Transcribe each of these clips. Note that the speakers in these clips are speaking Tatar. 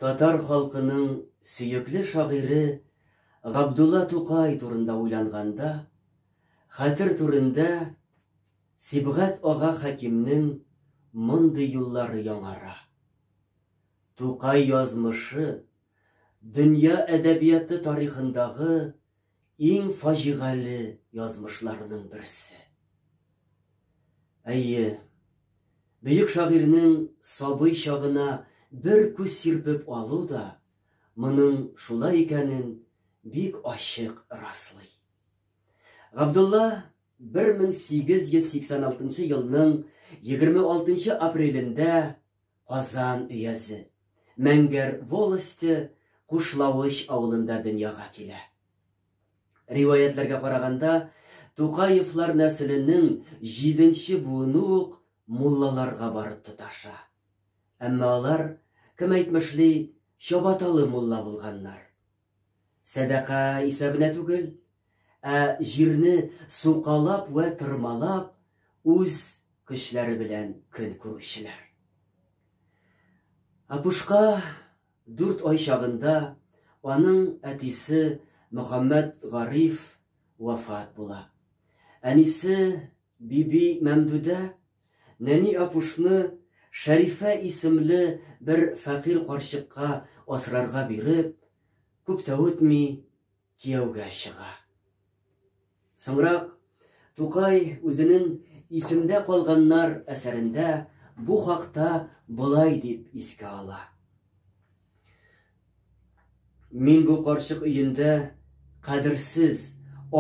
Татар халкының сөекле шагыйре Габдулла Тукай турында уйланганда, хәтер түрендә Сибгат ага Хәкимнең мондый юллары яңара. Тукай язмышы дөнья әдәбияты тарихындагы иң фаҗигале язмышларының берсе. Әйе, бөек шагыйрьнең сабый чагына бер күз сирпеп алу да моның шулай икәнен бик ачык раслый. Габдулла 1886 елның 26 апрелендә Казан өязе, Мәңгәр волосте Кушлавыч авылында дөньяга килә. Риваятьләргә караганда, Тукаевлар нәселенең җиденче буыны ук муллаларга барып тоташа. Әмма алар, кем әйтмешли, чабаталы мулла булганнар. Сәдака исәбенә түгел, ә җирне сукалап вә тырмалап үз көчләре белән көн күрүчеләр. Апушка дүрт ай чагында аның әтисе Мөхәммәт Гариф вафат була. Әнисе Биби Мәмдүдә нәни Апушны Шәрифә исемле бер фәкыйрь карчыкка асрарга биреп, күп тә үтми, кияүгә чыга. Соңрак Тукай үзенең Исемдә калганнар әсәрендә бу хакта болай дип искә ала. Мин бу карчык өендә кадерсез,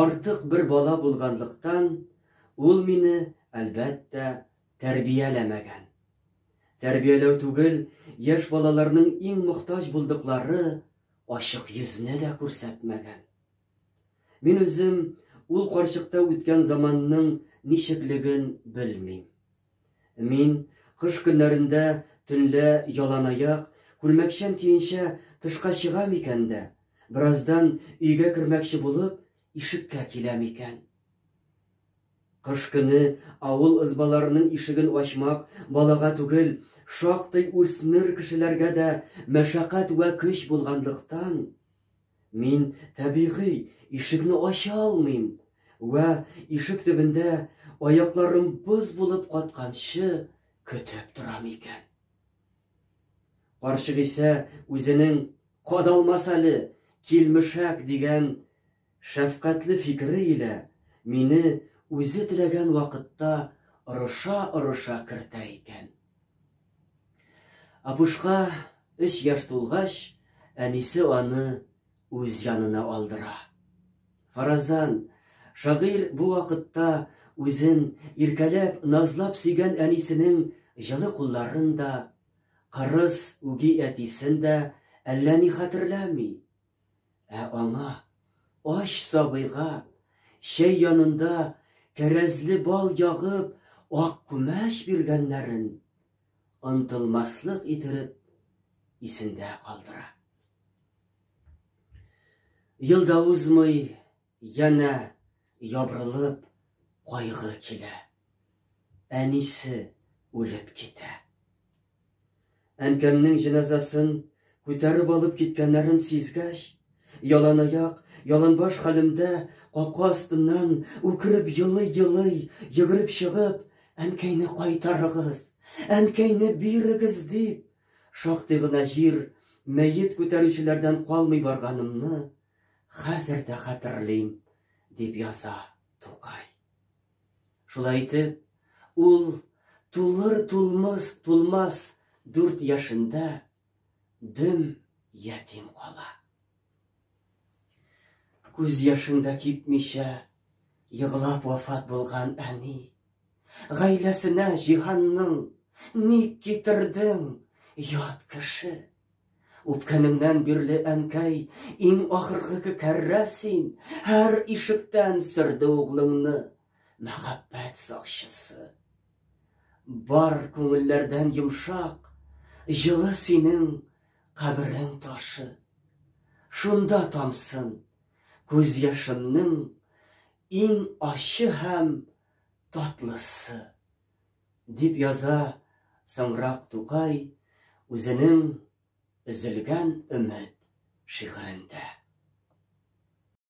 артык бер бала булганлыктан, ул мине, әлбәттә, тәрбияләмәгән. Тәрбияләү түгел, яшь балаларның иң мохтаҗ булдыклары ачык йөзне дә күрсәтмәгән. Мин үзем ул карчыкта үткән заманның ничеклеген белмим. Мин кыш көннәрендә төнлә яланаяк, күлмәкчән көенчә тышка чыгам икән дә, бераздан өйгә кермәкче булып, ишеккә киләм икән. Кыш көне авыл ызбаларының ишеген ачмак балага түгел, шактый үсмер кешеләргә дә мәшәкать вә көч булганлыктан, Мин, табигый, ишекне ача алмыйм. Вә, ишек төбендә, аякларым боз булып катканчы, көтеп торам икән. Карчык исә үзенең кадалмас әле, килмешәк дигән шәфкатьле фикере илә мине үзе теләгән вакытта орыша-орыша кертә икән. Апушка өч яшь тулгач, әнисе аны үз янына алдыра. Фаразан, шагыйрь бу вакытта үзен иркәләп, назлап сөйгән әнисенең җылы кулларын да, кырыс, үги әтисен дә әллә ни хәтерләми, Ә аңа, ач сабыйга, чәй янында кәрәзле бал ягып, ак күмәч биргәннәрен онтылмаслык итеп исендә калдыра. Ел да узмый, Янә ябрылып кайгы килә. Әнисе үлеп китә. Әнкәмнең җеназасын күтәреп алып киткәннәрен сизгәч, яланаяк, яланбаш хәлемдә капка астыннан үкереп елый-елый йөгереп чыгып, Әнкәйне кайтарыгыз, әнкәйне бирегез дип, шактый гына җир мәет күтәрүчеләрдән калмый барганымны Хәзер дә хәтерлим, дип яза Тукай. Шулай итеп, ул тулыр-тулмыс тулмас дүрт яшендә дөм ятим кала. Күз яшең дә кипмичә, еглап вафат булган әни. Гаиләсенә җиһанның ник китердең, ят кеше? Үпкәнеңнән бирле, әнкәй, иң ахыргы кәррә син, һәр ишектән сөрде углыңны мәхәббәт сакчысы. Бар күңелләрдән йомшак, җылы синең каберең ташы. Шунда тамсын күз яшемнең иң ачы һәм татлысы. Дип яза соңрак Тукай үзенең Өзелгән өмет шигырендә.